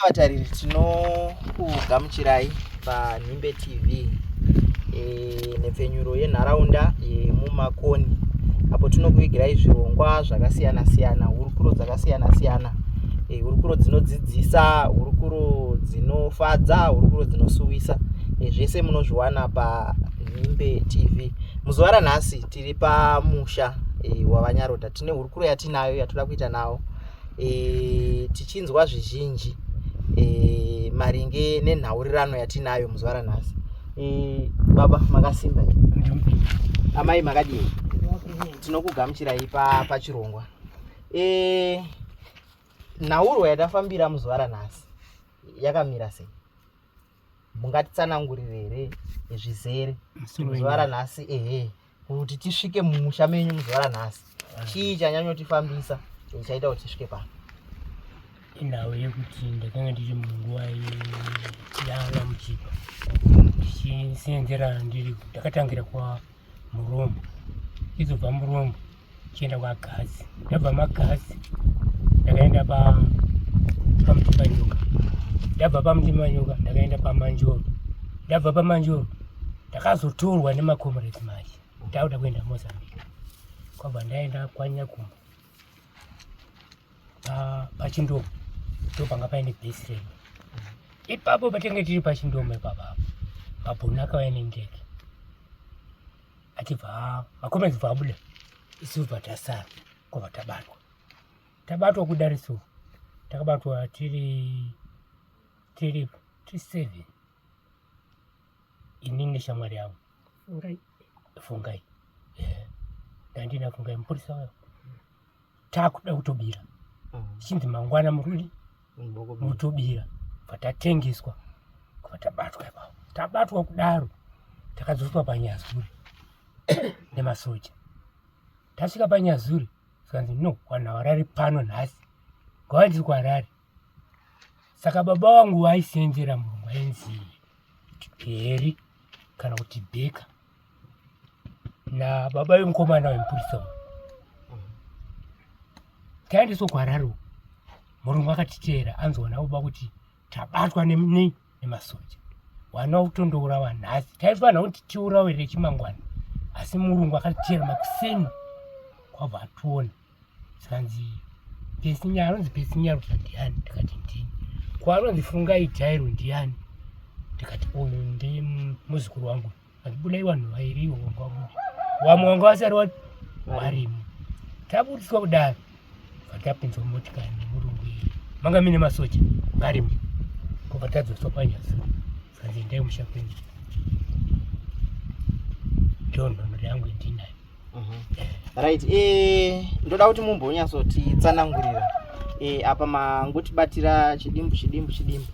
vatariri tinokugamuchirai panhimbe tv e, nhepfenyuro yenharaunda yemumakoni apo tinokuvigirai zvirongwa zvakasiyana siyana hurukuro dzakasiyana siyana e, hurukuro dzinodzidzisa hurukuro dzinofadza hurukuro dzinosuwisa e, zvese munozviwana panhimbe tv muzuva ranhasi tiri pamusha e, wavanyaroda tine hurukuro yatinayo yatoda kuita nawo e, tichinzwa zvizhinji e, maringe nenhaurirano yatinayo muzuva ranhasi e, baba makasimba amai makadii tinokugamuchirai pachirongwa pa e, nhaurwa yatafambira muzuva ranhasi yakamira sei mungatitsanangurire here zvizere zuva ranhasi ehe kuti tisvike mumusha menyu muzuva ranhasi chii chanyanyotifambisa chaita kuti tisvike pano inhau yekuti ndakanga ndiri munguva yana muchipa ndichisenderana ndiri ndakatangira kwa murombo izobva murombo chienda kwagazi ndabva magazi ndakaenda pamutimanyuka ndabva pamutimanyuka ndakaenda pamanjoro ndabva pamanjoro ndakazotorwa nemacomrades manje ndakuda kuenda mozambique kwabva ndaenda kwanyakumba pachindomo ndopanga paine base rei ipapo patinge tiri pachindomo ipapapo mabhunu akavaya nendege achibva vakoma achibva abuda isu bva tasara kwabva tabatwa tabatwa kudariso takabatwa tiri tiri tiri seven ini neshamwari yavo fungai fungai eh, ndandina fungai mupurisa wayo takuda kutobira chinzi mangwana murudi motobira patatengeswa patabatwa ipapo tabatwa kudaro takadzoswa panyazuri nemasoja tasvika panyazuri zvikanzi no vanhu havarari pano nhasi ngava ndiri kuharari saka baba wangu vaisenzera murungu ainzi heri kana kuti bheka nababa vemukomana wemupurisa uyu taendeswa kuharare uku murungu akatiteera anzoona baba kuti tabatwa nemnei nemasoja wana kutondourawa nhasi taifanira kuti tiurawe rechimangwana asi murungu akatiteera makuseni kwabva ationa zvanzi pesinya anonzi pesinya rusa ndiani ndikati ndini ko anonzi fungai jairo ndiani ndikati uyu ndi muzukuru wangu andibudai vanhu vairiwo vanga vabuda wamwe wanga vasari varimo tabudiswa kudaro vatapinzwa motikari nemurungu iyi manga mine masoja varimo kovatadzoswa panyasi zvanzi endai musha kwenyu ndoo nhono yangu yendinayo Mhm. right eh, ndoda kuti mumbonyatsotitsanangurira eh, apa mangotibatira chidimbu chidimbu chidimbu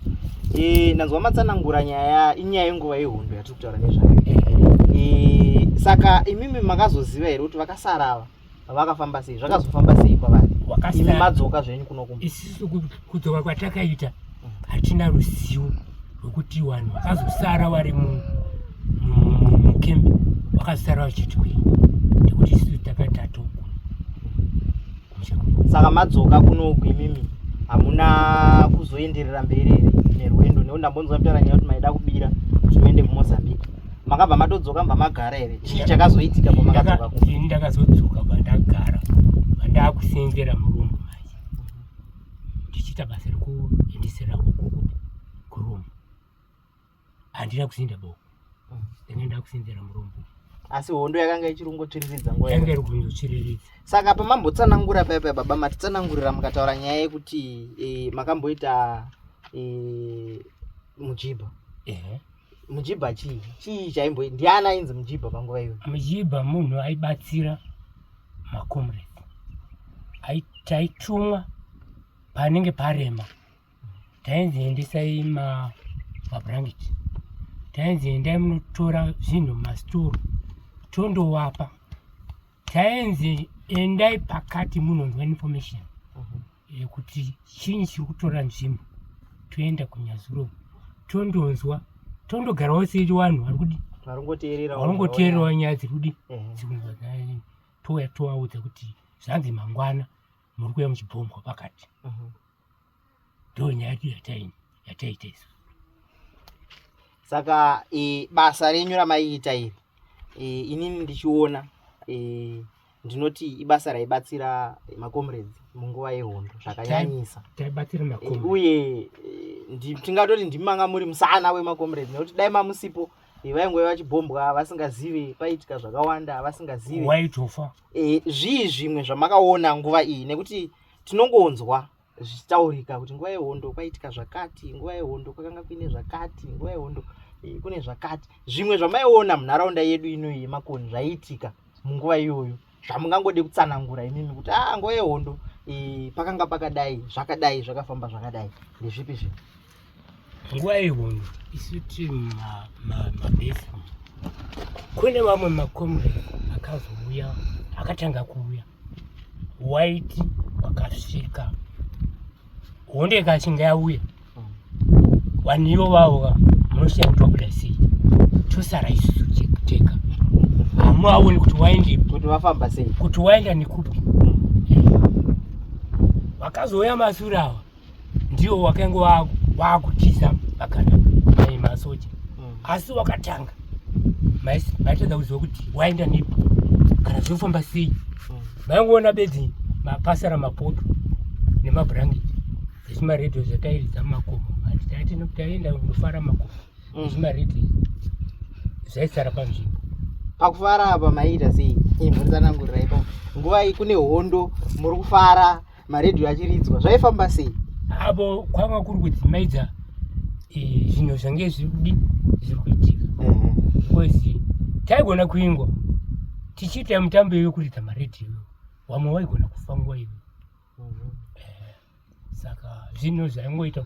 eh, ndanzwa matsanangura nyaya inyaya yenguva yehondo yatiri kutaura nezvayo eh, saka imimi makazoziva here kuti vakasara ava vakafamba sei zvakazofamba sei kwavari imi madzoka zvenyu kunokumba isisu kudzoka kwatakaita hatina ruzivo rwekuti vanhu vakazosara vari mukembe vakazosara vachiti kwei nekuti isu takatatu saka madzoka kunoku imimi hamuna kuzoenderera mberi here nerwendo nekuti ndambonzwa mtaura nyaya kuti maida kubira kuti muende kumozambique makabva matodzoka mba magara here chii chakazoitika pamakadzoka ku ndakazodzoka bandagara bandakusenzera murume ndichiita basa rekuendesera huku kuromu handina kusinda boko mm. ndanga ndakusindira murombo asi hondo yakanga ichirongotsviriridza nguva yanga iri kungotsviriridza saka pamambotsanangura paya paya baba matitsanangurira mukataura nyaya yekuti e, makamboita e, mujibha ehe mujibha chii chii chaimbo ndiani ainzi mujibha panguva iyo mujibha munhu aibatsira macomrade taitumwa panenge parema tainzi endesai mabranket tainzi endai munotora zvinhu mastoro tondowapa tainzi endai pakati munonzwa information yekuti chinyi chiri kutora nzvimbo toenda kunyazuro tondonzwa tondogarawo seri vanhu vari kudi varongoteererawo nyaya dziri kudi touya tovaudza kuti zvanzi mangwana muri kuya muchibhombwa pakati ndo nyaya yedu yataita isu saka e, basa renyu ramaiita iri e, inini ndichiona e, ndinoti ibasa raibatsira macomrades munguva yehondo zvakanyanyisa eh, uye eh, tingatoti ndimanga muri musana wemacomrades nekuti dai mamusipo eh, vainge vachibhombwa vasingazive paitika zvakawanda vasingazive zvii zvimwe zvamakaona nguva iyi nekuti tinongonzwa zvichitaurika kuti nguva yehondo kwaitika zvakati nguva yehondo kwakanga kuine zvakati nguva yehondo eh, kune zvakati zvimwe zvamaiona munharaunda yedu inoyi yemakoni zvaiitika munguva iyoyo zvamungangode kutsanangura imimi kuti a ah, nguva yehondo eh, pakanga pakadai zvakadai zvakafamba zvakadai ndezvipi zvinhu nguva yehondo isu tiri mabesi kune vamwe makomre akazouya akatanga kuuya waiti wakasvika hondo ikachinga yauya vanhu ivo vauka munoshiya kuti wabuda sei tosara isusu chekuteka hamuaoni kuti waende kuti vafamba sei kuti waenda nekupi vakazouya masure ava ndiwo wakainge waakutiza magana mai masoja mm. asi wakatanga maitadza kuziva kuti waenda nepi kana zvinofamba sei maingoona mm. bedzi mapasara mapoto nemabhurangeti ezvimaredhiyo zvatairidza mumakomo handitati nokuti taienda kunofara makomo mm. ezvimaredhiyo zvaisara panzvimbo pakufara apa maiita sei imhuri tsanangurirai pa nguva iyi kune hondo muri kufara maredhiyo achiridzwa zvaifamba sei avo kwanga kuri kudzimaidza eh, zvinhu zvange zvirikudi zviri kuitika because taigona kuingwa tichiita mutambo iwe kuridza maredhiyo wamwe waigona kufa nguva iwe mhm. eh, saka zvinhu zvaingoita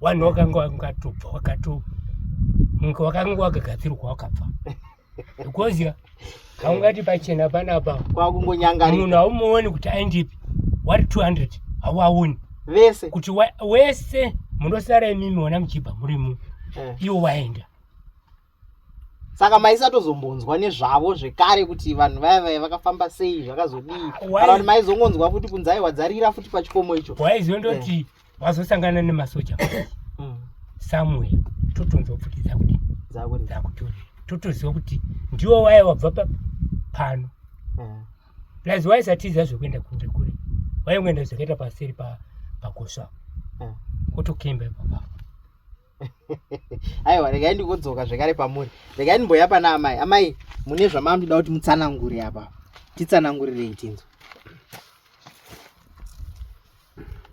vanhu wakanga wangatobva wakato wakanga wakagadzirwa wakabva because haungati pachena panapa kwakungonyangarira munhu haumuoni kuti aindipi wari 200 hauaoni vese kuti wese munosara imimi ona muchibva murimu eh. iwo waenda saka maisatozombonzwa nezvavo zvekare kuti vanhu vaya vaya vakafamba sei zvakazodii kana kuti maizongonzwa futi kunzi aiwa dzarira futi pachikomo icho waizondoti eh. vazosangana nemasoja mm. samwe totonzwa futi dzakuti dzakutori totoziva kuti ndiwo waya wabva pano eh. plus waisatiza zvekuenda kunge kure waingoenda zvakaita paseri pakosva eh. kotokemba ipapapo aiwa regai ndikodzoka zvekare pamuri regai ndimboya pana amai amai mune zvamamdida kuti mutsanangure apa titsanangurirei tinzo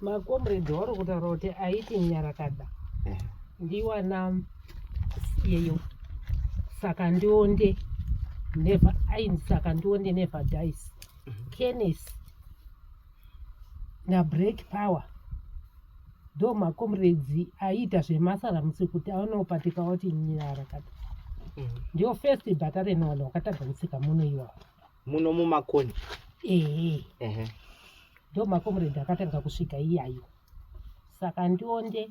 makomredi wauri kutaura kuti aiti nyarakada eh. ndiwana yeyo saka ndionde never aini saka ndionde never dice mhm. kenis na break power ndo makomuredzi aiita zvemasara musi kuti aonopatika oti nyara kati mm. ndio first bhata renona wakatanga kutsika muno iwawo muno mumakoni ehe ndo makomuredzi akatanga kusvika iyayo saka ndionde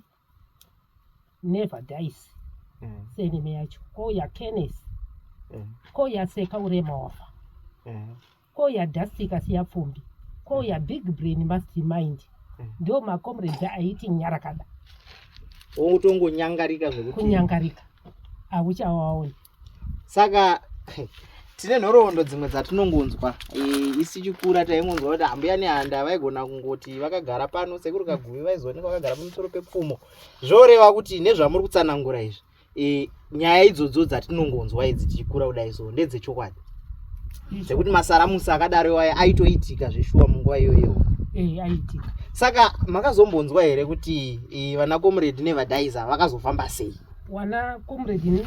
never dies mm. senime yacho ko yakenesi mm. ko yaseka urema wafa mm. ko yadastika siya pfumbi ko mm. ya big brain must mind mm. ndo macomrade aiti nyarakada ungutongonyangarika zvekuti kunyangarika hauchawaoni ah, saka tine nhoroondo dzimwe dzatinongonzwa eh, isi chikura taingonzwa kuti hambuya nehanda vaigona kungoti vakagara pano sekuri kaguvi vaizooneka vakagara pamusoro pepfumo zvoreva kuti nezvamuri kutsanangura izvi eh, nyaya idzodzo dzatinongonzwa idzi tichikura kudai so ndedzechokwadi hmm. dzekuti masaramusi akadaro iwayo aitoitika zveshuwa munguva iyoyo eh, aiitika saka makazombonzwa here kuti vanakomuredi nevadhaiza vakazofamba sei wana comrade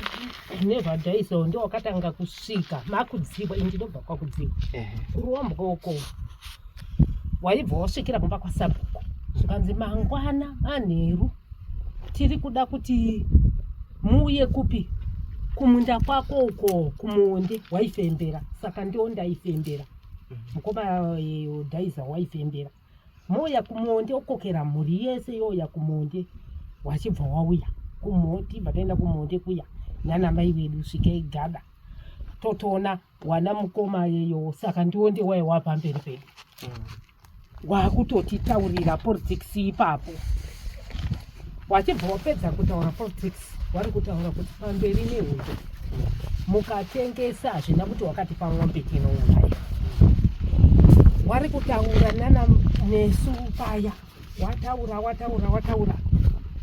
never die so ndio wakatanga kusvika makudzibwa ini ndinobva kwakudzibwa kurombwa uko waibva wasvikira kumba kwasabhuku zvikanzi mangwana manheru tiri kuda kuti muuye kupi kumunda kwako uko kumuonde waifembera saka ndiwo ndaifembera mhm. mukoma eh, dhaiza waifembera Mouya kumonde okokera mhuri yese youya kumonde wachibva wauya kumhoti bva taenda kumonde kuya nana mai vedu svikei gada totoona wana mukoma yeyo saka ndiwo ndewai wapamberi pedu mm. wakutotitaurira politics ipapo wachibva wapedza kutaura politics wari kutaura kuti pamberi nehondo mukatengesa hazvina kuti wakati pamombe tinouraya wari kutaura nana nesu paya wataura wataura wataura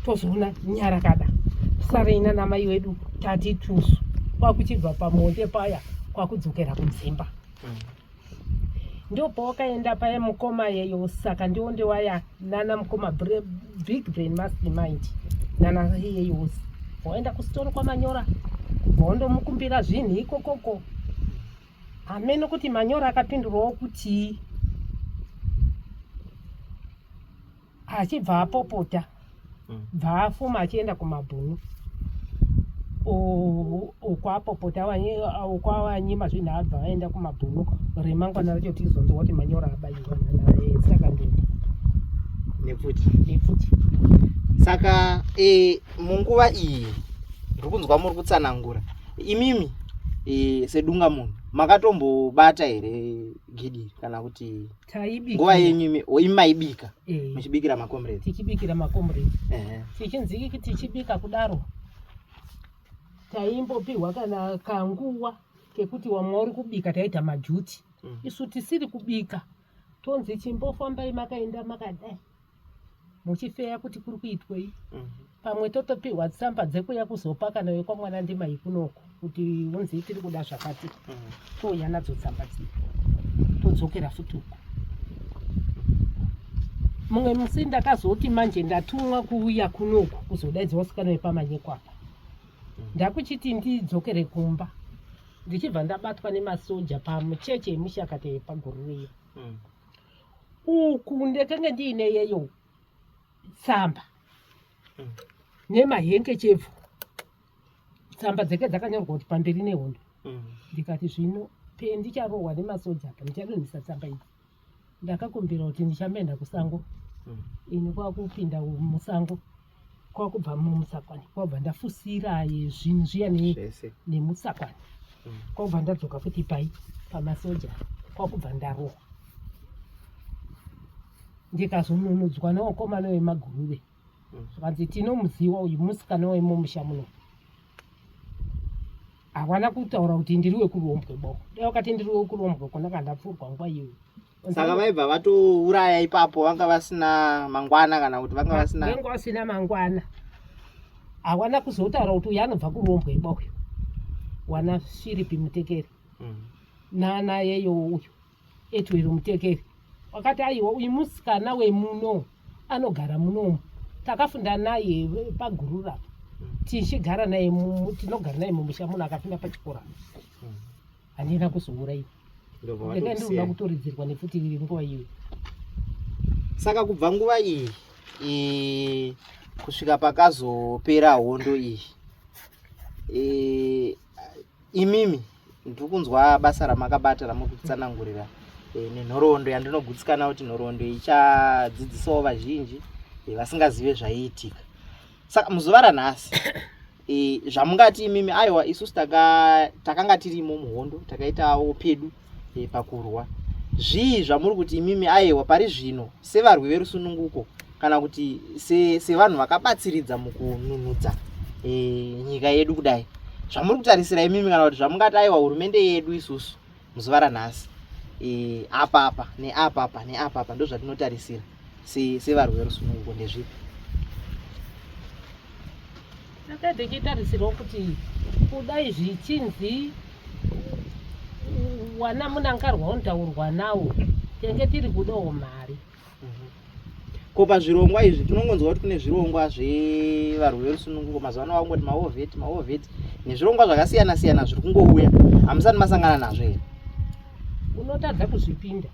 tozoona nyara kada sarei nana mai wedu tati tusu kwakuchibva pamonde paya kwakudzokera kudzimba mm. ndopowakaenda paye mukoma yeyo saka ndiwo ndewaya nana mukoma big brain mastermind nana yeyo waenda kusitoro kwamanyora wondomukumbira zvinhu ikokoko hameno kuti manyora akapindurwawo kutii achibva apopota mm. bvaafuma achienda kumabhunu ukwapopota ukwawanyima zvinhu abva vaenda kumabhunu remangwana racho tizonzwa kuti manyora abayiwa saka ndini nepfuti nepfuti saka e, munguva iyi ndiri kunzwa muri kutsanangura imimi e, sedunga munhu makatombobata here gidi kana kuti taibika nguva yenyu imi oh, maibika eh. muchibikira makomrade tichibikira makomrade tichinzi iki tichibika kudaro taimbopihwa kana kanguva kekuti wamwe uri kubika taita majuti mm. isu tisiri kubika tonzi chimbofambai makaenda makadai muchifeya kuti kuri kuitwei mhm. pamwe totopihwa tsamba dzekuya kuzopa kana wekwamwana ndimai kunoko kuti unzi tiri kuda zvakati mhm. touya nadzo tsamba dzii todzokera futi uko mumwe musi ndakazoti manje ndatumwa kuuya kunoku kuzodaidza wasikana wepamanyekwapa mhm. ndakuchiti ndidzokere kumba ndichibva ndabatwa nemasoja pamucheche yemushakata yepagururiya uku ndekenge ndiine yeyo tsamba mm. nemahenkechefu tsamba dzeke dzakanyorwa kuti pamberi nehondo mm. ndikati zvino pendicharohwa nemasoja apa ndichadonhisa tsamba idzi ndakakumbira kuti ndichamenda kusango mm. ini kwakupinda musango kwakubva mumusakwani kwakubva ndafusira zvinhu zviya nemusakwani mm. kwakubva ndadzoka futi pai pamasoja kwakubva ndarohwa ndikazonunudzwa newakomana wemaguruve mm. zvikanzi tinomuziwa uyu musikana wemumusha muno hawana kutaura kuti ndiri wekurombwe boko dai wakati ndiri wekurombwe kona kandapfurwa nguva iyoyo saka vaibva vatouraya ipapo vanga vasina mangwana kana kuti vanga vasina vanga vasina mangwana hawana kuzotaura kuti uyu anobva kurombwa iba uyu wana shiripi mutekeri mm. nana yeyo uyu etwero mutekeri wakati aiwa uyu musikana wemuno anogara munomu takafunda naye pagurura mm. tichigara naye tinogara naye mumusha munhu akafunda pachikora mm. handina kuzouraiwa ndanga ndinoda kutoridzirwa nefuti riri nguva iyoyo saka kubva nguva iyi e, kusvika pakazopera hondo iyi e, imimi ndiri kunzwa basa ramakabata ramuri kutsanangurira e, nenhoroondo yandinogutsikana kuti nhoroondo ichadzidzisawo vazhinji e, vasingazive zvaiitika saka muzuva ranhasi e, zvamungati imimi aiwa isusu taka, takanga tirimo muhondo takaitawo pedu e, pakurwa zvii zvamuri kuti imimi aiwa pari zvino sevarwi verusununguko kana kuti sevanhu se vakabatsiridza mukununudza e, nyika yedu kudai zvamuri kutarisira imimi kana kuti zvamungati aiwa hurumende yedu isusu muzuva ranhasi e, apa apa neapa apa neapa apa ndozvatinotarisira sevarwi verusununguko ndezvipi tanga tichitarisirwa kuti kudai zvichinzi wana munangarwa unotaurwa nawo tenge tiri kudawo mari ko pazvirongwa izvi tinongonzwa kuti kune zvirongwa zvevarwi verusununguko mazuva ano vakungoti maovheti maovheti nezvirongwa zvakasiyana siyana zviri kungouya hamusati masangana nazvo here unotadza kuzvipinda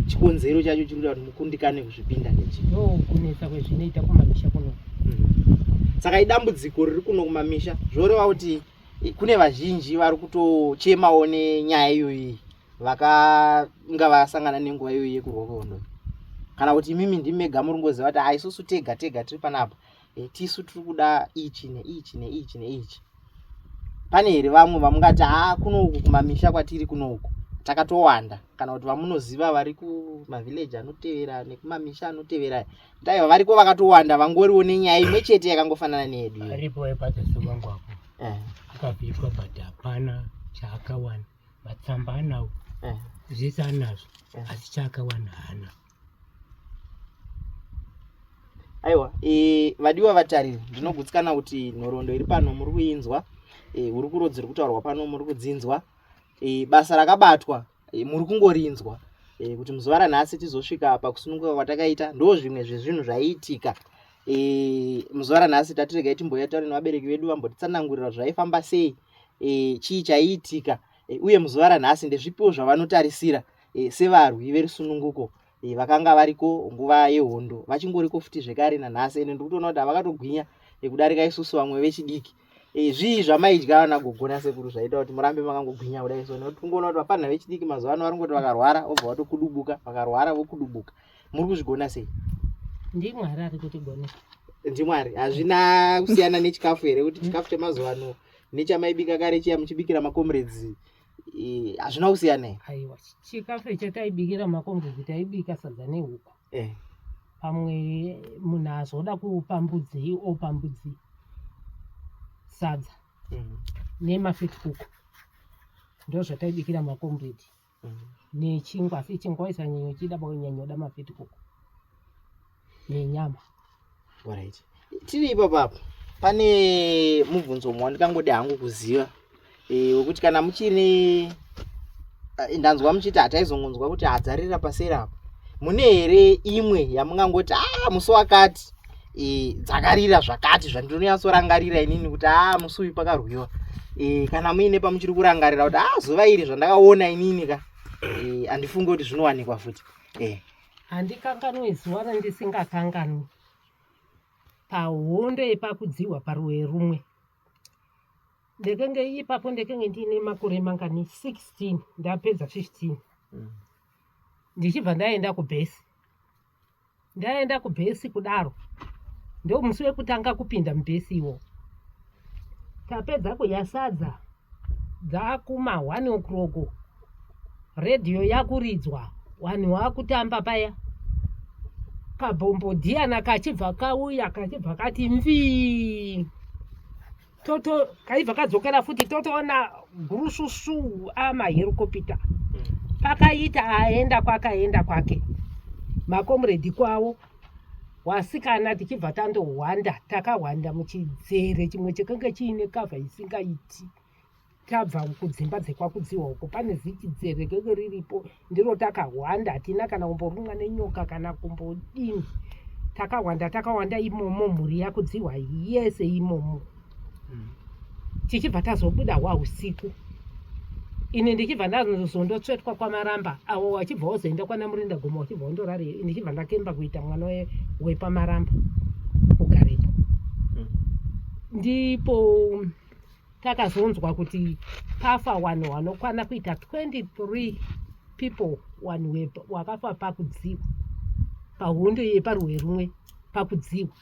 chikonzero chacho chiri kuita kuti mukundikane kuzvipinda ndechi no kunetsa kwezvinoita kumamisha kuno mm-hmm. saka idambudziko riri kuno kumamisha zvoreva kuti kune vazhinji vari kutochemawo nenyaya iyoyi vakanga vasangana nenguva iyoyi yekurwa kwehondo kana kuti imimi ndimi mega muri ngoziva kuti aisusu ah, tega tega tiri panapa eh, tisu tiri kuda ichi neichi neichi neichi pane here vamwe vamungati haa ah, kuno uku kumamisha kwatiri kuno uku takatowanda kana kuti vamunoziva vari kumavhileji anotevera nekumamisha anotevera taiva variko vakatowanda vangoriwo nenyaya imwe chete yakangofanana neyedu aripo epatasowangu apo eh. akabviswa but hapana chaakawana matsamba anawo eh. zvese anazvo eh. asi chaakawana hana aiwa e, vadiwa vatariri ndinogutsikana kuti nhoroondo iri pano muri kuinzwa e, uri kuro dziri kutaurwa pano muri kudzinzwa e, basa rakabatwa e, muri kungorinzwa e, kuti muzuva ranhasi tizosvika pakusununguka kwatakaita ndo zvimwe zvezvinhu zvaiitika e, muzuva ranhasi tatiregai timboya taure nevabereki vedu vambotitsanangurira zvaifamba sei e, chii chaiitika e, uye muzuva ranhasi ndezvipiwo zvavanotarisira e, sevarwi verusununguko e, vakanga variko nguva yehondo vachingoriko futi zvekare nanhasi ende ndikutoona kuti havakatogwinya e, kudarika isusu vamwe vechidiki e, zvii zvamaidya vana gogo nasekuru zvaita kuti murambe makangogwinya kudai so nekuti kungoona kuti vafanha vechidiki mazuva ano vari kungoti vakarwara obva vatokudubuka vakarwara vokudubuka muri kuzvigona sei ndimwari ari kutigonesa ndimwari hazvina kusiyana nechikafu here kuti chikafu chemazuva ano nechamaibika kare chiya muchibikira macomrades hazvina kusiyana here aiwa chikafu icho taibikira macomrades taibika sadza nehuku eh. pamwe munhu azoda kupa mbudzii opa mbudzii sadza mm. nemafit kuku ndozvataibikira macomrade nechingwa asi chingwa isanyanya uchida banyanya uda mafiti kuku nenyama right tiri ipapo apo pane mubvunzo umwe wandikangode hangu kuziva e, wekuti kana muchine e, ndanzwa muchiti hataizongonzwa kuti hadzarira paseri apo mune here imwe yamungangoti a ah, musi wakati e, dzakarira zvakati zvandinonyatsorangarira inini kuti aa ah, musi uyu pakarwiwa e, kana muine pamuchiri kurangarira kuti aa ah, zuva iri zvandakaona inini ka e, handifunge kuti zvinowanikwa futi e. handikanganwe zuva randisingakanganwi pahondo yepakudzihwa paruwe rumwe ndekenge ipapo ndekenge ndiine makore mangani 16 ndapedza 15 mm. ndichibva ndaenda kubhesi ndaenda kubhesi kudaro ndo musi wekutanga kupinda mubhesi iwo tapedza kudya sadza dzakuma one o'clock redhiyo yakuridzwa vanhu vakutamba paya kabhombodhiyana kachibva kauya kachibva kati mvii toto kaibva kadzokera futi totoona gurususu amaherokopita pakaita aenda kwake aenda kwake makomuredi kwavo wasikana tichibva tandohwanda takahwanda muchidzere chimwe chekenge chiine kavha isingaiti tabva kudzimba dzekwakudziwa uko pane ziti dzerekeke riripo ndiro takahwanda hatina kana kumborumwa nenyoka kana kumbodini takahwanda takahwanda imomo mhuri yakudziwa yese imomo hmm. tichibva tazobuda hwa usiku ini ndichibva ndazondotsvetwa kwamaramba avo wachibva wozoenda kwana murinda goma wachibva wondorari ndichibva ndakemba kuita mwana wepamaramba kugarepo hmm. ndipo takazonzwa kuti pafa vanhu vanokwana kuita 23 people vanhu vakafa pakudziwa pahondo yeparwe rumwe pakudziwa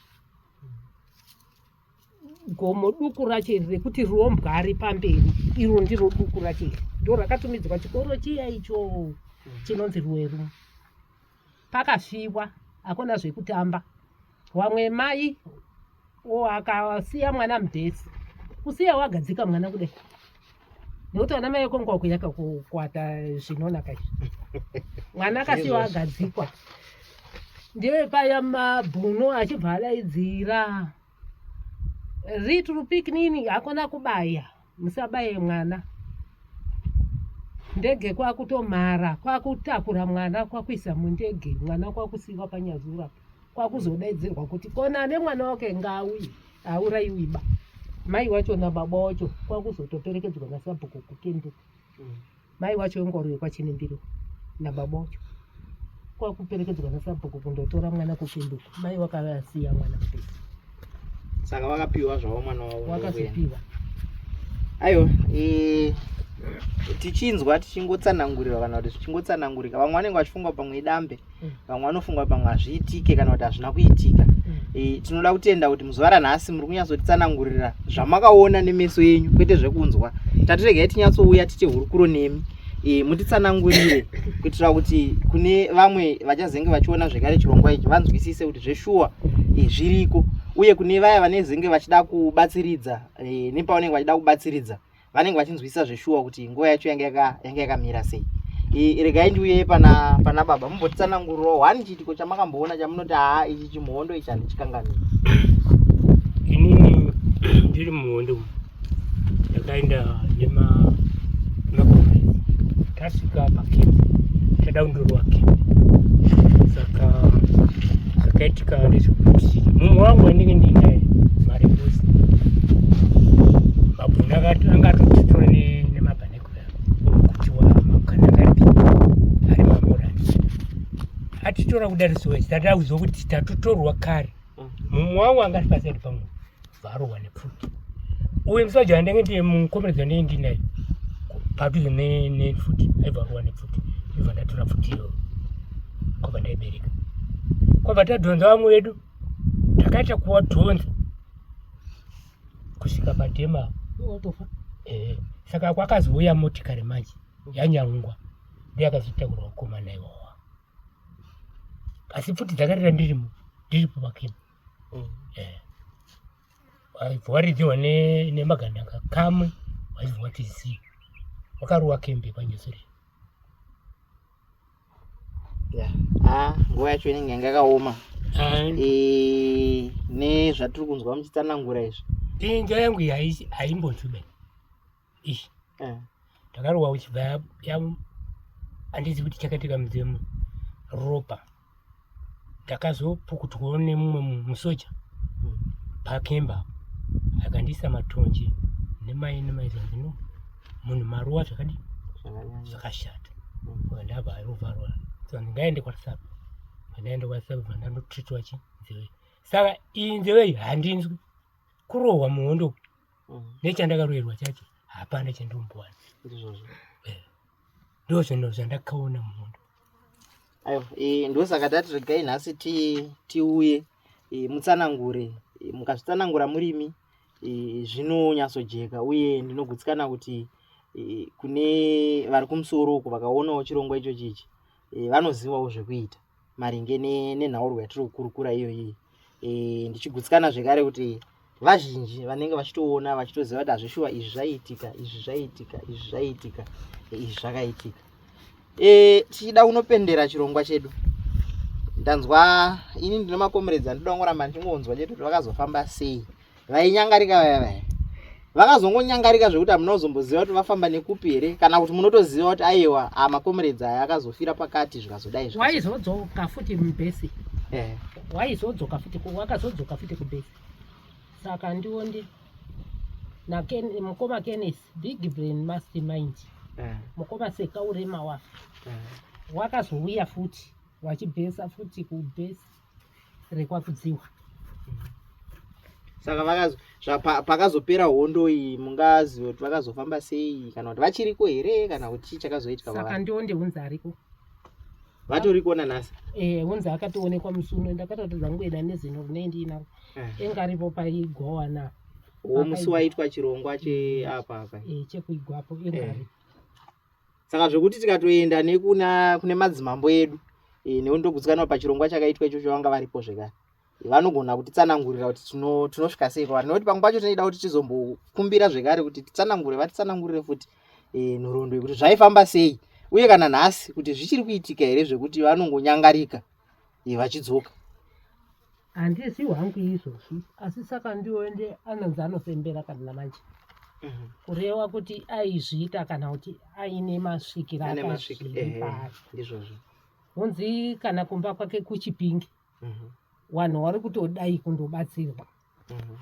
gomo duku racho iri rekuti rombwa ari pamberi iro ndiro duku racho iri ndo rakatumidzwa chikoro chiya icho chinonzi rweru pakafiwa hakuna zvekutamba wamwe mai akasiya mwana mudhesi kusiya wagadzika mwana kudai nekuti vana mai konga wakuyaka kukwata zvinonaka izvi mwana akasiwa agadzikwa ndiye paya mabhuno achibva adaidzira ritrupic nini hakuna kubaya musabaye mwana ndege kwakutomhara kwakutakura mwana kwakuisa mundege mwana kwakusiiwa panyazura kwakuzodaidzirwa kuti kona ane mwana wake ngaauye auraiwiba mai wacho nababa wacho kwakuzotoperekedzwa nasabhuku kukenduka mm. mai wacho wengoro yekwaChinembiro nababa wacho kwakuperekedzwa nasabhuku kundotora mwana kupinduka mai wakavasiya mwana mudiki saka wakapiwa zvavo mwana wavo wakazopiwa aiwa e, tichinzwa tichingotsanangurirwa kana kuti zvichingotsanangurika vamwe vanenge vachifunga pamwe idambe mm. vamwe vanofunga pamwe hazviitike kana kuti hazvina kuitika e, tinoda kutenda kuti muzuva ranhasi muri kunyatsotitsanangurira zvamakaona nemeso yenyu kwete zvekunzwa tatiregai tinyatsouya tite hurukuro nemi e, mutitsanangurire kuitira kuti kune vamwe vachazenge vachiona zvekare chirongwa ichi vanzwisise kuti zveshuwa e, zviriko uye kune vaya vanezenge vachida kubatsiridza e, nepavanenge vachida kubatsiridza vanenge vachinzwisisa zveshuwa kuti nguva yacho yange yakamira sei regai ndiuye pana pana baba mumbotitsanangurirawo wani chiitiko chamakamboona chamunoti haa ichi chimhondo ichi handichikanganiri inini ndiri muhondo yakaenda nema Tasvika apa kiti chadaundirwa kiti saka zvakaitika ndezvekuti mumwe wangu wandinge ndiinaye marebusi mabhuni anga atotitore nemabhanekura kuti wamakanakati ari mamurani atitora kudarisiwa tatakuziva kuti tatotorwa kare mumwe wangu anga ari pasaidi pamwe varohwa nepfuti uye musaji andenge ndiye mukomeredzi andenge ndinaye padhuze nefuti aibva arohwa nepfuti ibva ndatora pfuti iyo kwabva ndaibereka kwabva tadhonza vamwe vedu takaita kuwadhonza kusvika padhema eh, saka kwakazouya motikari manje yanyangwa ndiye akazotaurwa kukomana iwawa asi pfuti dzakarira ndirimo ndiripo pakini mm. eh. waivhwaridziwa nemagandanga kamwe waivhwa tizivi wakaruwa kembe panyesure ah, nguva yacho inenge yanga yakaoma eh, nezvatiri kunzwa muchitsanangura izvi inja yangu haimbotsube ichi eh. ndakarohwa uchibva handizi kuti chakaitika mudzimu ropa ndakazopukutwawo nemumwe musoja hmm. pakemba akandiisa matonje nemai nemai zvandino munhu maruwa zvakadi zvakashata hmm. ndabva arovharwa so ndingaende kwasapo vandaenda kwasapo vandandotritwa chi nzeve saka iyi nzeve iyi handinzwi kurohwa muhondo nechandakaroerwa chacho hapana chandombowana eh. ndo zvinhu zvandakaona muhondo aiwa eh, ndosaka tati regai nhasi tiuye eh, mutsanangure mukazvitsanangura murimi zvinonyatsojeka uye ndinogutsikana kuti kune vari kumusoro uku vakaonawo chirongwa ichochi ichi e, vanozivawo zvekuita maringe nenhaurwa yatiri kukurukura iyoyi e, ndichigutsikana zvekare kuti vazhinji vanenge vachitoona vachitoziva kuti hazvishuwa izvi zvaiitika izvi zvaiitika izvi zvaiitika e, izvi zvakaitika e, tichida kunopendera chirongwa chedu ndanzwa ini ndine makomeredzi andidaongoramba ndichingonzwa chete kuti vakazofamba sei vainyangarika vaya vaya vakazongonyangarika zvekuti hamuna kuzomboziva kuti vafamba nekupi here kana kuti munotoziva kuti aiwa amakomuredzi aya akazofira pakati zvikazodai waizodzoka futi mubhesi eh. waizodzoka futi wakazodzoka futi kubhesi saka ndiwo ndi mukoma kenis big brain must mind eh. mukoma seka urema wafe eh. wakazouya futi wachibhesa futi kubhesi rekwakudziwa saka vakazo pakazopera hondo iyi mungaziva kuti vakazofamba sei kana kuti vachiriko here kana kuti chii chakazoitika saka ndiwo ndehunzi ariko vatoriko nanhasi eh hunzi akatoonekwa musi uno ndakatoti dzangu eda nezino rine ndiinaro eh. enga aripo paigowana wo musi waitwa chirongwa cheapa apa eh, chekuigwapo enga eh. aripo saka zvekuti tikatoenda nekuna kune madzimambo edu e, eh, neundogutsikanwa pachirongwa chakaitwa ichocho vanga varipo zvekare eh, vanogona kutitsanangurira kuti tinosvika sei kwavari nekuti pamwe pacho tinoida kuti tizombokumbira zvekare kuti titsanangure vatitsanangurire futi e, eh, nhoroondo yekuti zvaifamba sei uye kana nhasi kuti zvichiri kuitika here zvekuti vanongonyangarika iyi vachidzoka handisi hwangu izvozvi asi saka ndioende anonzi anofembera kana manje mhm. kureva kuti aizviita kana kuti aine masvikira akazviipaizvozvo eh, honzi kana kumba kwake kuchipingi mhm. vanhu vari kutodai kundobatsirwa mhm.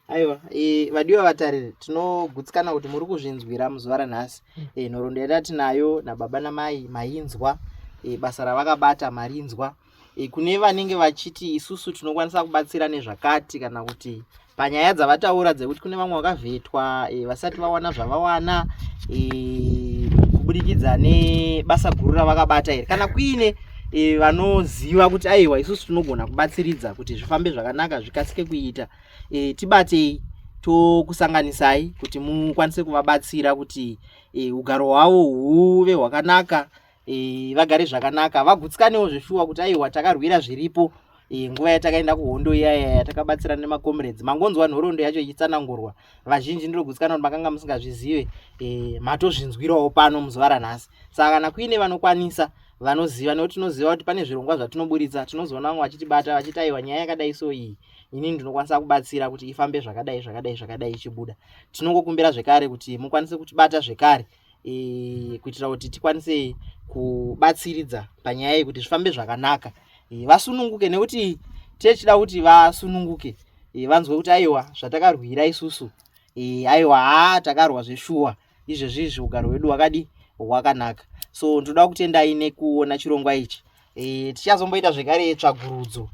aiwa e, vadiwa vatariri tinogutsikana kuti muri kuzvinzwira muzuva ranhasi hmm. e, nhoroondo yata tinayo nababa namai mainzwa e, basa ravakabata marinzwa e, kune vanenge vachiti isusu tinokwanisa kubatsira nezvakati kana kuti panyaya dzavataura dzekuti kune vamwe vakavhetwa e, vasati vawana zvavawana e, kubudikidza nebasa guru ravakabata here kana kuine e, vanoziva kuti aiwa isusu tinogona kubatsiridza kuti zvifambe zvakanaka zvikasike kuita e, tibatei tokusanganisai kuti mukwanise kuvabatsira kuti e, ugaro hwavo huve hwakanaka e, vagare zvakanaka vagutsikanewo zveshuwa kuti aiwa takarwira zviripo e, nguva yatakaenda kuhondo iyaya yatakabatsira nemacomrades mangonzwa nhorondo yacho ichitsanangurwa vazhinji ndiri kugutsikana kuti makanga musingazvizive e, matozvinzwirawo pano muzuva ranhasi saka kana kuine vanokwanisa vanoziva nekuti tinoziva kuti pane zvirongwa zvatinoburitsa tinozoona vamwe vachitibata vachiti aiwa nyaya yakadai so iyi ini ndinokwanisa kubatsira kuti ifambe zvakadai zvakadai zvakadai ichibuda tinongokumbira zvekare kuti mukwanise kutibata zvekare e, kuitira kuti tikwanise kubatsiridza panyaya iyi kuti zvifambe zvakanaka e, vasununguke nekuti tichida kuti vasununguke e, vanzwe kuti aiwa zvatakarwira isusu e, aiwa haa takarwa zveshuwa izvezvi izvi ugaro hwedu hwakadi hwakanaka so ndoda kutendai nekuona chirongwa ichi e, tichazomboita zvekare tsvagurudzo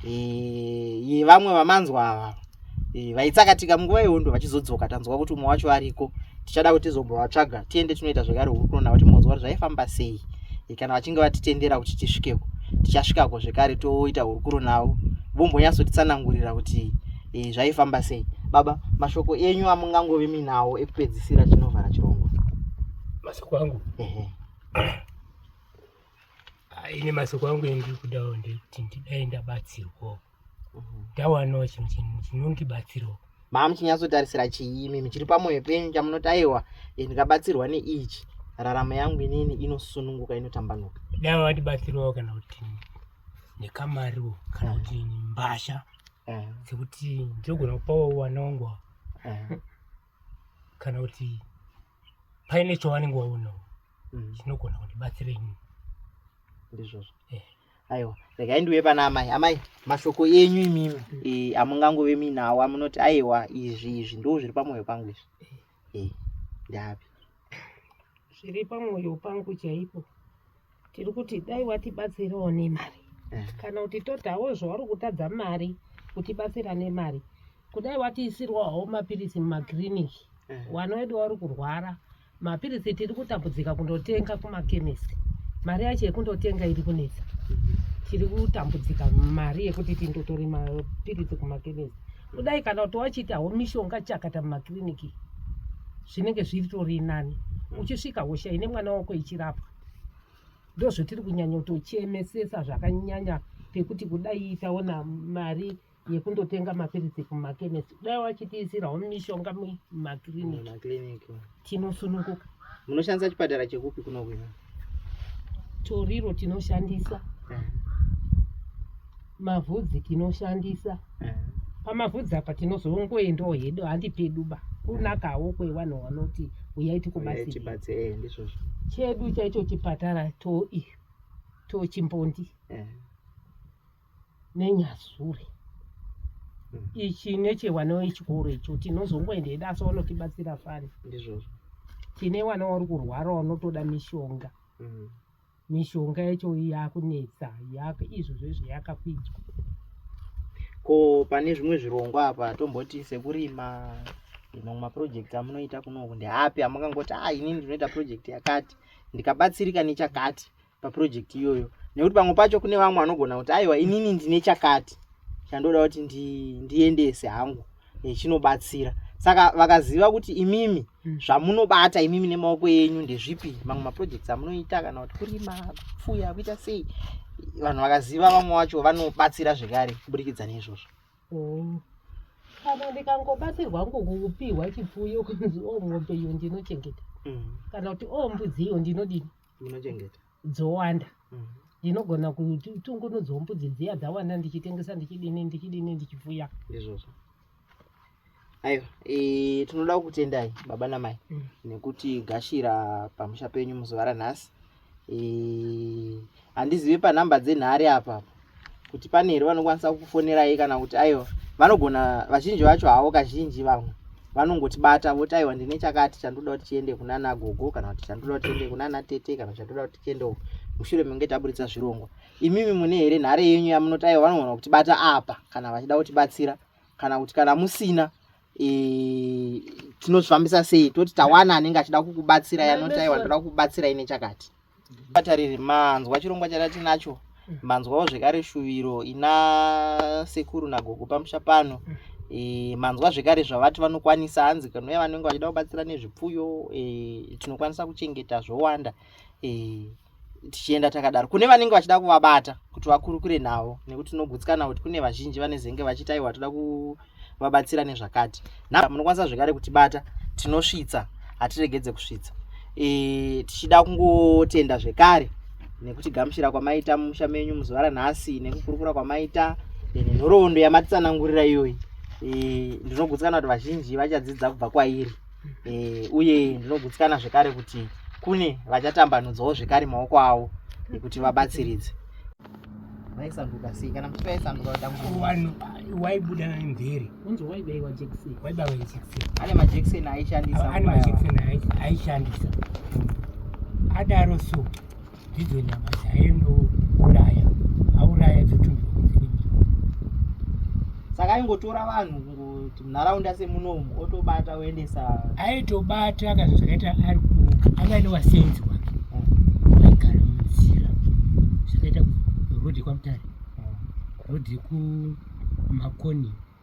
e, yevamwe vamanzwa ava e, vaitsakatika munguva yehondo vachizodzoka tanzwa kuti umwe wacho ariko tichada kuti tizombovatsvaga tiende tinoita zvekare huri kuona kuti munzwa kuti zvaifamba sei e, kana vachinge vatitendera kuti tisvikeko tichasvikako zvekare toita hurukuro navo vombonyatsotitsanangurira kuti e, zvaifamba sei baba mashoko enyu amungangove minawo ekupedzisira tinovhara chirongwa mashoko angu ini masoko angu endiri kudawo ndekuti ndidai ndabatsirwawo mhm. ndawanawo chinhu chinhu chinondibatsirawo maa muchinyatsotarisira chiimi muchiri pamwoyo penyu chamunoti aiwa eh, ndikabatsirwa neichi raramo yangu inini inosununguka inotambanuka dai vandibatsirawo kana kuti nekamariwo kana mhm. kuti mbasha mhm. dzekuti ndinogona kupawo wana wangu kana kuti paine chawanenge waonawo mm. chinogona kundibatsira ini ndizvozvo eh. aiwa regai ndiuye pana amai amai mashoko enyu imimi mm. eh, amungangove muinawo amunoti aiwa izvi izvi ndo zviri pamwoyo pangu izvi eh, ndapi zviri pamwoyo pangu chaipo tiri kuti dai watibatsirawo nemari eh. kana kuti totawo zvauri kutadza mari kutibatsira nemari kudai watiisirwawo mapiritsi mumakiriniki eh. wana wedu wauri kurwara mapiritsi tiri kutambudzika kundotenga kumakemisi mari yacho yekundotenga iri kunetsa mhm. tiri kutambudzika mari yekuti tindotore mapiritsi kumakemisi kudai kana kuti wachiitawo mishonga chakata mumakiriniki zvinenge zviritori nani mm. uchisvika hosha ine mwana wako ichirapwa ndozvotiri kunyanya kutochemesesa zvakanyanya pekuti kudai taona mari yekundotenga mapiritsi kumakemesi dai wachitiisirawo mishonga mumakiriniki tinosununguka munoshandisa chipatara chekupi kuno kuno toriro tinoshandisa eh. mavhudzi tinoshandisa eh. pamavhudzi apa tinozongoendawo hedu handi pedu ba kunakawo kwevanhu vanoti uyai tikubatsirndizvozvo eh, chedu chaicho chipatara toi tochimbondi nenyazure mm. ichi nechewana wechikoro icho tinozongoenda hedu asi wanotibatsira fani ndizvozvo tine wana wari kurwara wanotoda mishonga mm. mishonga yacho yakunetsa yaka izvo zvezvo yakakwidzwa ko pane zvimwe zvirongwa apa tomboti sekurima mamwe maproject amunoita kunoku ndeapi amungangoti a ah, ini ndinoita project yakati ndikabatsirika nechakati paproject iyoyo nekuti pamwe pacho kune vamwe vanogona kuti aiwa inini ndine chakati chandoda kuti ndiendese hangu chinobatsira saka vakaziva kuti imimi hmm. zvamunobata imimi nemaoko enyu ndezvipi mamwe maprojects amunoita kana kuti kurima kupfuya kuita sei vanhu vakaziva vamwe vacho vanobatsira zvekare kuburikidza neizvozvo oh. kana ndikangobatsirwa ngokupiwa chipfuyo kunzi o oh, mombe iyo ndinochengeta hmm. kana kuti o oh, mbudzi iyo ndinodini munochengeta dzowanda mm. ndinogona kutungunudzawo mbudzi dziya dzawanda ndichitengesa ndichidini ndichidini ndichipfuya ndizvozvo aiwa e, tinoda kukutendai baba namai mm. nekuti gashira pamusha penyu muzuva ranhasi e, handizive panhamba dzenhari apa kuti pane here vanokwanisa kukufonerai kana kuti aiwa vanogona vazhinji vacho havo kazhinji vamwe vanongotibata voti aiwa ndine chakati chandoda kuti chiende kunana gogo kana kuti chandoda kuti chiende kunana tete kana chandoda kuti chiende uku mushure menge taburitsa zvirongwa imimi mune here nhare yenyu yamunoti aiwa vanogona kutibata apa kana vachida kutibatsira kana kuti kana musina e, tinozvifambisa sei toti tawana anenge achida kukubatsira yanotaiwa ndoda kukubatsira ine chakati batariri manzwa chirongwa chada tinacho mm. manzwawo zvekare shuviro ina sekuru nagogo pamusha pano mm. e, manzwa zvekare zvavati vanokwanisa hanzi kanuya vanenge vachida kubatsira nezvipfuyo e, tinokwanisa kuchengeta zvowanda mm. eh, tichienda takadaro kune vanenge vachida kuvabata kuti vakurukure navo nekuti tinogutsikana kuti kune vazhinji vanezenge vachiti aiwa toda kuvabatsira nezvakati na munokwanisa zvekare kutibata tinosvitsa hatiregedze kusvitsa e, tichida kungotenda zvekare nekuti gamuchira kwamaita mumusha menyu muzuva ranhasi nekukurukura kwamaita nenhoroondo yamatitsanangurira iyoyi e, ndinogutsikana kuti vazhinji vachadzidza kubva kwairi e, uye ndinogutsikana zvekare kuti kune vachatambanudzawo zvekare maoko avo ekuti vabatsiridze vaisanduka sei kana muchiti vaisanduka vatambuvanhu waibuda mvere unzi waibaiwa jekiseni waibaiwa jekiseni ane majekiseni aishandisa ane majekiseni aishandisa adaro so ndidzo nyama dzaindouraya auraya dzotumbirwa saka aingotora vanhu kuti munharaunda semunomu otobata oendesa aitobata kana zvakaita ari anga ane vasenzi wake vaigara munzira zvakaita rodi kwamutare rodi kumakoni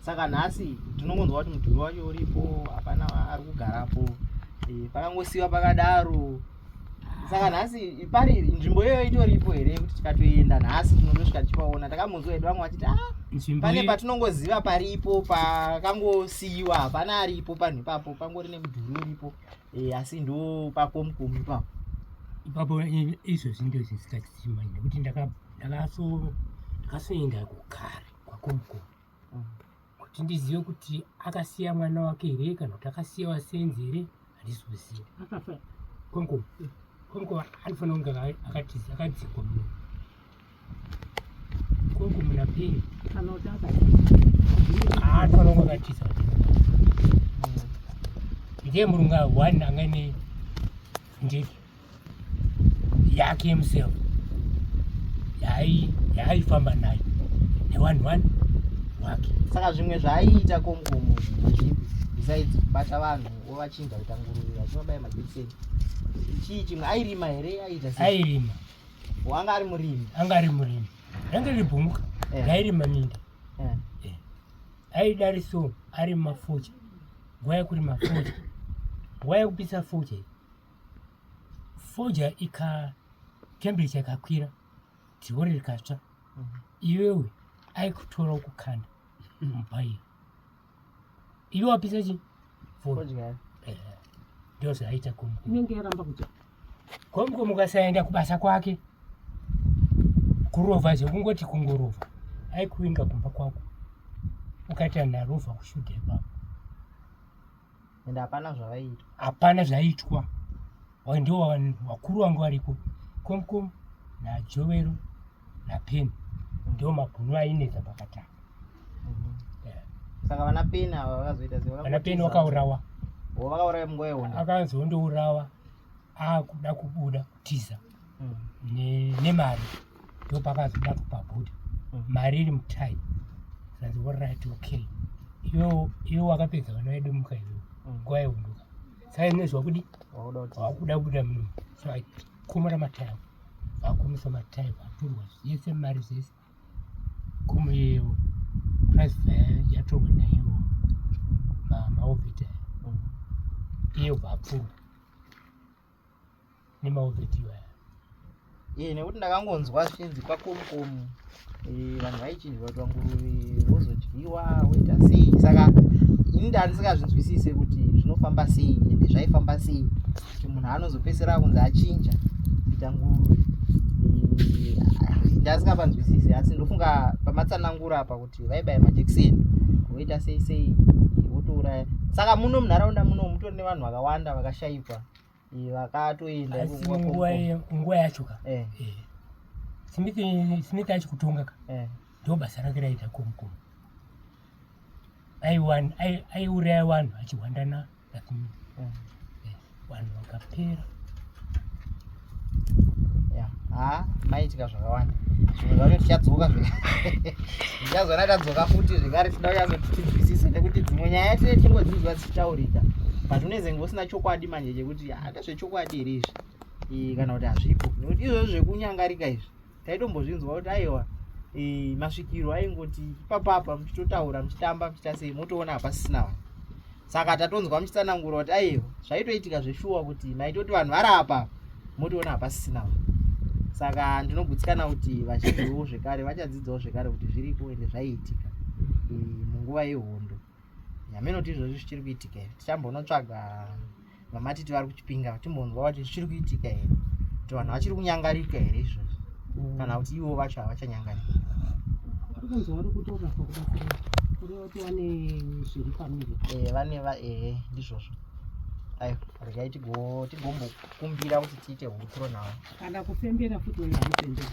saka nhasi tinongonzwa kuti mudhuri wacho uripo hapana ari kugarapo eh, pakangosiyiwa pakadaro saka nhasi pari nzvimbo iyoyo itoripo here yekuti tikatoenda nhasi tinotosvika tichipaona takamboziva hedu vamwe vachiti ah, pane patinongoziva paripo pakangosiyiwa hapana aripo panhu ipapo pangori nemudhuri uripo eh, asi ndo pakomukomu ipapo ipapo izvozvi ndo zvisikachitichimai nekuti ndakasoenda kugare kwakomukomu kuti ndizive kuti akasiya mwana wake here kana kuti akasiya vasenzi here handisi kuziva konko konko anofanira kunge akatiza akadzikwa muno konko muna peni anofanira kunge akatiza ndiye murunga one angaine ndiki yake himself yaaifamba nayo newanhu wani wake saka zvimwe zvaaiita komkomo zvipi besides kubata vanhu ovachinja kuita nguruve vachivabaya majekiseni chii chimwe airima here aiita airima wanga ari murimi anga ari murimi range ribhumuka eh. rairima minda eh. eh. aidari so ari mafucha nguva yekuri mafucha nguva yekupisa fucha foja ika temperature ikakwira dhori rikatsva mhm. iwewe aikutora ukukanda mubhairi iwe wapisa chi foja eh, ndozvaita komu inenge yaramba kuti komko mukasaenda kubasa kwake kurova zvekungoti kungorova aikuinga kumba kwako ukati anarova kushuda ipapo and hapana zvavaiitwa hapana zvaiitwa ndo vakuru vangu variko komkom najovero napeni ndo mabhunu ainetsa pakatanga mhm. saka vana peni ava vakazoita sevana peni vakaurawa vakauraya munguva yehondo akanzi hondourawa akuda kubuda tiza nemari ndopakazoda kupabuda mm. mari iri mutai zvanzi orit okay iwe wakapedza vana vedu muka iwe mm. nguva yeunduka sai nezva kudi wakuda kubuda muno so akumura matai ako vakumisa matai vaturwa yese mari zese kumu yewo price yatorwa naiwo maovita mm. iye vapfurwa nemauvetiyo aya ee eh, nekuti ndakangonzwa zvichinzi kwakomukomu eh, vanhu vaichinjwa kutwa nguruve vozodyiwa woita sei saka ini ndandisingazvinzwisise kuti zvinofamba sei ende zvaifamba sei kuti munhu anozopesera kunzi achinja kuita nguruve eh, ndasingapanzwisise asi ndofunga pamatsanangura apa kuti vaibaye majekiseni voita sei sei votouraya saka muno munharaunda muno mutori nevanhu vakawanda vakashaikwa vakatoenda nguva yacho ka eh. eh. smith achi kutonga ka eh. ndo basa rake raita komukomu aiuraya vanhu achihwandana nasimith vanhu vakapera haa maitika zvakawanda zvimwe zvacho tichadzoka zvichazona tadzoka futi zvekare tida kuyazoti tinzwisise nekuti dzimwe nyaya tine tingodzinzwa dzichitaurika but unezenge usina chokwadi manje chekuti handezvechokwadi here izvi kana kuti hazvipo nekuti izvozvo zvekunyangarika izvi taitombozvinzwa kuti aiwa e, masvikiro aingoti ipapapa muchitotaura muchitamba muchiita sei motoona hapasisina vanhu saka tatonzwa muchitsanangura kuti aiwa zvaitoitika zveshuwa kuti maitoti vanhu vari apa motoona hapasisina vanhu saka ndinogutsikana kuti vazhinjiwo zvekare vachadzidzawo zvekare kuti zviriko ende zvaiitika e, munguva yehondo nyama inoti izvozvi zvichiri kuitika here tichambonotsvaga vamatiti vari kuchipinga timbonzwa kuti zvichiri kuitika here kuti vanhu vachiri kunyangarika here izvozvi mm. kana kuti ivo vacho havachanyangarika eh, vane va ehe ndizvozvo ayo regai tigombokumbira kuti tiite hutro navo kana kufembera futi waiva kufembera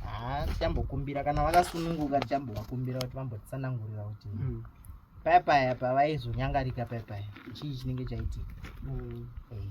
haa tichambokumbira kana vakasununguka tichambovakumbira kuti vambotsanangurira kuti mm. paya paya pavaizonyangarika paya paya chii chinenge chaitika mm. eh.